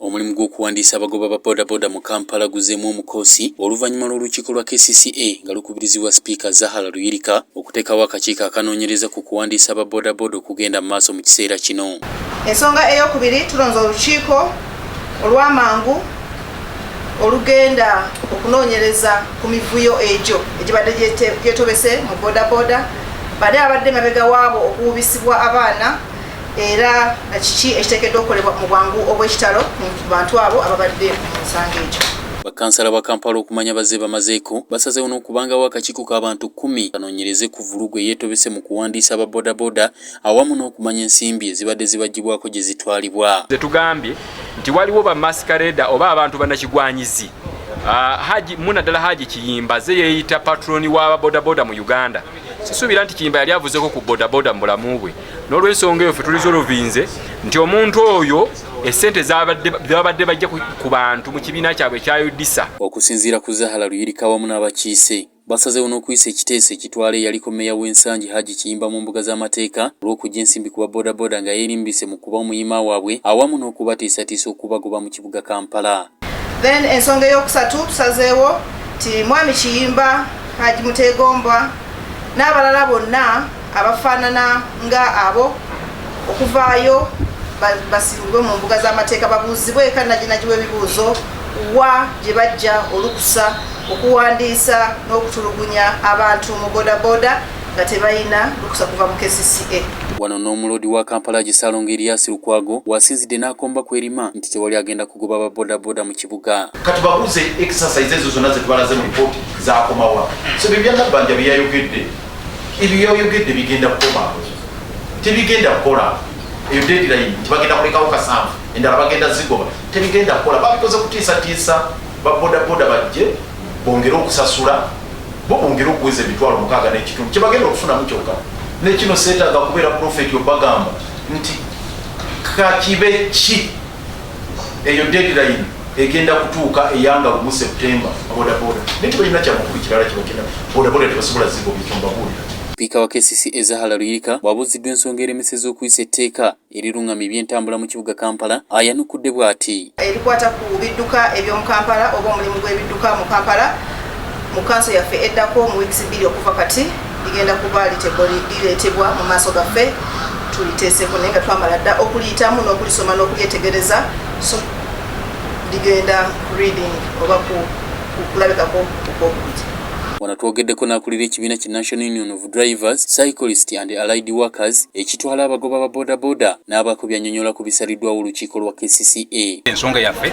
Omulimu gw'okuwandiisa abagoba ba bodaboda mu Kampala guzzeemu omukoosi oluvannyuma lw'olukiiko lwa kcca nga lukubirizibwa sipiika Zahara Luyirika okuteekawo akakiiko akanoonyereza ku kuwandiisa aba bodaboda okugenda mu maaso mu kiseera kino. Ensonga ey'okubiri tulonze olukiiko olw'amangu olugenda okunoonyereza ku mivuyo egyo egibadde gyetobese mu bodaboda bade abadde emabega waabo okuwubisibwa abaana era kiki ekiteekeddwa okukolebwa mu bwangu obw'ekitalo ku bantu abo ababadde mu nsanga egyo. Bakansala ba Kampala okumanya bazze bamazeeko, basazeewo n'okubangawo akakiiko ka bantu kkumi kanoonyereze ku vvulugu eyeetobese mu kuwandiisa aba bodaboda awamu n'okumanya ensimbi ezibadde zibaggyibwako gye zitwalibwa. Ze tugambye nti waliwo bamaskareeda oba abantu banakigwanyizi uh, Haji, muna ddala Haji Kiyimba ze yeeyita patroni wa bodaboda mu Uganda. sisuubira nti kiyimba yali avuzeko ku bodaboda mu bulamu bwe n'olwensonga eyo fe tulizolovinze nti omuntu oyo esente zebabadde bajja ku bantu mu kibiina kyabwe ekyayodisa okusinziira ku zahala luyirika wamu n'abakiise basazewo n'okuyisa ekiteeso ekitwala eyaliko meeya w'ensangi haji kiyimba mu mbuga z'amateeka olw'okujja ensimbi ku babodaboda nga yeerimbise mu kuba omuyima waabwe awamu n'okubateesatiisa okubagoba mu kibuga Kampala. Then ensonga eyokusatu tusazeewo ti Mwami Kiyimba, Haji Mutegombwa n'abalala bonna abafaanana nga abo okuvaayo basimbibwe mu mbuga z'amateeka babuuzibwe eka naginagiwa ebibuuzo wa gye bajja olukusa okuwandiisa n'okutulugunya abantu mu bodaboda nga tebalina lukusa kuva mu kcca. Wano n'omuloodi wa Kampala agi Ssalongo Erias Lukwago w'asinzidde n'akomba ku erima nti tewali agenda kugoba ba bodaboda mu kibuga. Katubabuuze exercise ezo zonna zetubalaze mu lipooti zakomawa? So bye bya Nabbanja bye yayogedde ebyo yayogedde bigenda kukoma tebigenda kukola eyo deadline nti bagenda kulekawo kasanvu endala bagenda zigoba tebigenda kukola babikoze kutiisatiisa babodaboda bajje bongere okusasula bo bongere okuweza emitwalo mukaaga n'ekitundu kye bagenda okufunamu kyokka nekino seetaaga kubeera profeti obagamba nti kakibe ki eyo deadline egenda kutuuka eyanga lumu septemba bodaboda naye tebalina kyamakulu kirala kibagenda bodaboda tebasobola ziba obikyombabuulira sipiika wa kcc ezahala luyirika bw'abuuziddwa ensonga eremeseza okuyisa etteeka erirung'amya ebyentambula mu kibuga Kampala ayanukudde bwati. Ebikwata ku bidduka eby'omu Kampala oba omulimu gw'ebidduka mu Kampala mu kkanso yaffe eddako mu wiikisi bbiri okuva kati ligenda kuba lireetebwa mu maaso gaffe tuliteeseko naye nga twamala dda okuliyitamu n'okulisoma n'okulyetegereza so ligenda reading oba kulabikako okwokubiri wano twogeddeko n'akulira ekibiina ki national union of drivers, cyclist and allied workers ekitwala abagoba ba bodaboda n'abakubi anyonyola ku bisaliddwawo olukiiko lwa kcca. Ensonga yaffe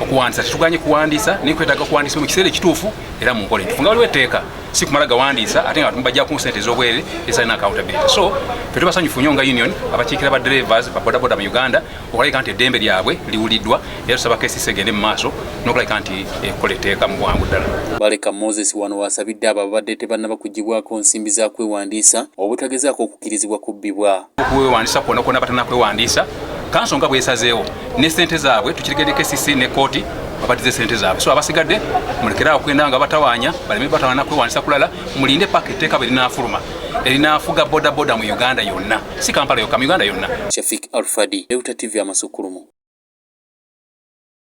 okuwandiisa tetuganye kuwandiisa naye kwetaaga kuwandiisa mu kiseera ekituufu era mu nkola entufu nga waliwo etteeka si kumala gawandiisa ate nga bajja ku nsente ez'obwerere ezalina accountability so fe tubasanyufu nnyo nga union abakiikira ba drivers ba bodaboda mu uganda okulabika nti eddembe lyabwe liwuliddwa era tusaba KCC egende mu maaso n'okulabika nti ekola etteeka mu bwangu ddala. Baleka Moses wano w'asabidde abo ababadde tebannaba kuggyibwako nsimbi za kwewandiisa obutagezaako okukkirizibwa kubbibwa. Okwewandiisa kwonna kwonna batanakwewandiisa kanso nga bwesazeewo ne ssente zaabwe tukirigende KCC ne kkooti babadize ssente zaabwe so abasigadde mulekere awo kugenda nga batawaanya baleme batawaana kwewandiisa kulala mulinde paka etteeka bwe linaafuluma erinaafuga bodaboda mu uganda yonna si kampala yokka mu uganda yonna shafik alfadi leuta tv amasukulumu